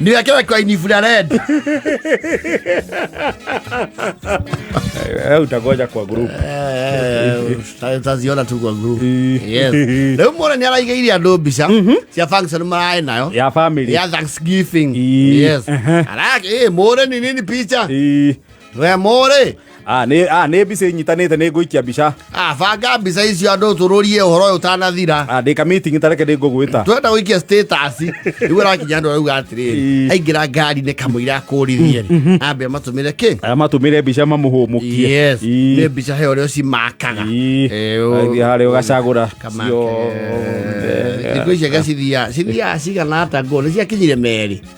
niwekewe kwa infrared Eh, utagoja kwa group taziona tu kwa group yes rĩu muona nĩ araigĩire andũ mbica cia function maraĩ nayo ya family ya thanksgiving Ii. yes Ehe. arake ĩ mũre ni nini picha Ii. remo rä Ah, nĩ ah, nĩ mbica inyitanĩte nĩ ngũikia mbica Ah, banga mbica icio andå tå rå rie å horo å yå ũtanathira Ah, ndĩ ka meeting tareke nĩ ngũgwĩta twenda gå ikia rä rakinya andå arauga atä rä Ii. aingä ra ngari-inä kamå ira akå ririe rä ambä matå mä re kä aya matũmĩre mbica mamũhũmũkie Yes, Ii. nä mbica he å rä a cimakaga Ii. Eh, å- Athiĩ harĩa ũgacagũra Kamake. ciothe. Thikũ ici aga cithiaga cithiaga cigana ata ngå nä ciakinyire merä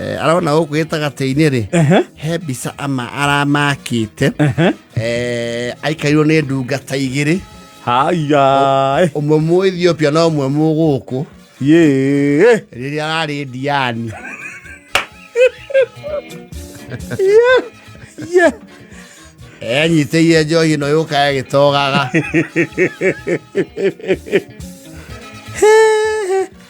Eh, arona gũkũ gĩtagatĩ-inĩ rĩ Ehe, he mbica ama aramakĩte ehe. Eh, aikairwo nĩ ndungata igĩrĩ Haya. ũmwe mũ ethiopia na ũmwe mũ gũkũ Yee. rĩrĩa ararĩ ndiani Yeah. enyitĩire njohi ĩno yũka ĩgĩtogaga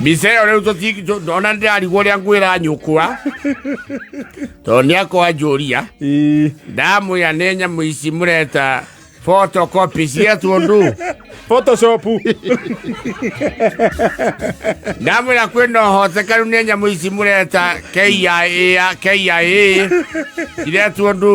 mbica ĩyo rĩu tũti- ona ndĩrarigwo ũrĩa nguo ĩranyũkwa tondũ nĩ akwanjũria Ĩĩ. ndamwĩra nĩ nyamũ ici mũreta photocopy cia tũndũ Photoshop. ndamwĩra kwĩna ũhotekanu nĩ nyamũ ici mũreta KIA KIA iretwo ndũ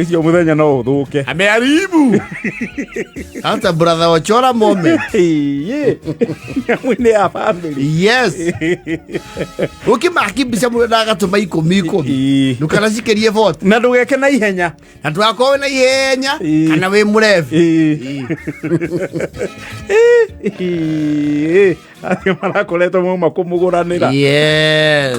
icio muthenya no uthuke amearibu That's a brother Ochora moment. nyamwine ya family Yes. Ukimakibisha mũndũ na agatũma ikũmi ikũmi. Ii. Ndũkanacikerie vote. na ndugeke na ihenya Na ndũgakorwo na ihenya Ii. kana wĩ mũrebi. acio marakoretwo mauma kũmũgũranĩra Yes.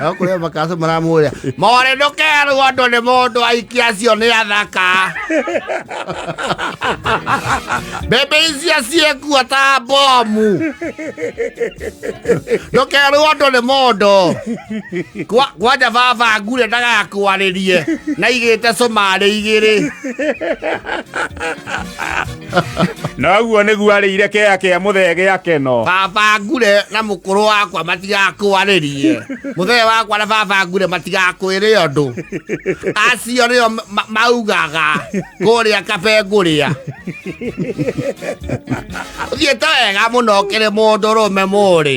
Ao kuria makaso maramuria. More ndukeru andu ni mundu aikia cio ni athaka. Bebe icio ciekua ta bomu. Ndukeru andu ni mundu. Kwa kwanja baba ngure ndagakwaririe. Na igite cumari igiri. noguo nĩguo arĩire kea kĩa mũthege akeno baba ngure na mũkũrũ wakwa matigakwarĩrie mũthee wakwa na baba ngure matigakwĩrĩ ũndũ acio nĩo ma- ma- maugaga kũrĩa kabe ngũrĩa ũthiĩte wega mũno ũkĩrĩ mũndũ rũme mũrĩ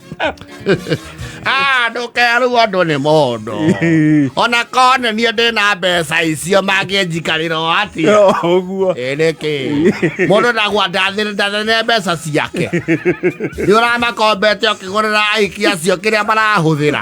Ah, ndũkerwo andũ nĩ mũndũ ona kona niĩ ndĩ na mbeca icio mangĩnjikarĩra o atĩa ũguo ĩ nĩkĩ mũndũ ndagwa ndathĩre mbeca ciake nĩ ũramakombete ũkĩgũrĩra aiki acio kĩrĩa marahũthĩra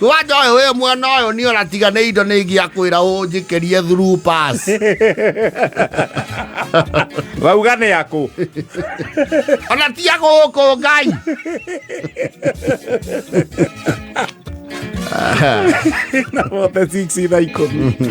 Wanja ũyũ wĩ mwena ũyũ nĩ ona tiga nĩ indo nĩ ingĩakwĩra ũnjĩkĩrie through pass. wauga nĩ yakũ Ona ti ya gũkũ ngai. na wote 6 thaa ikũmi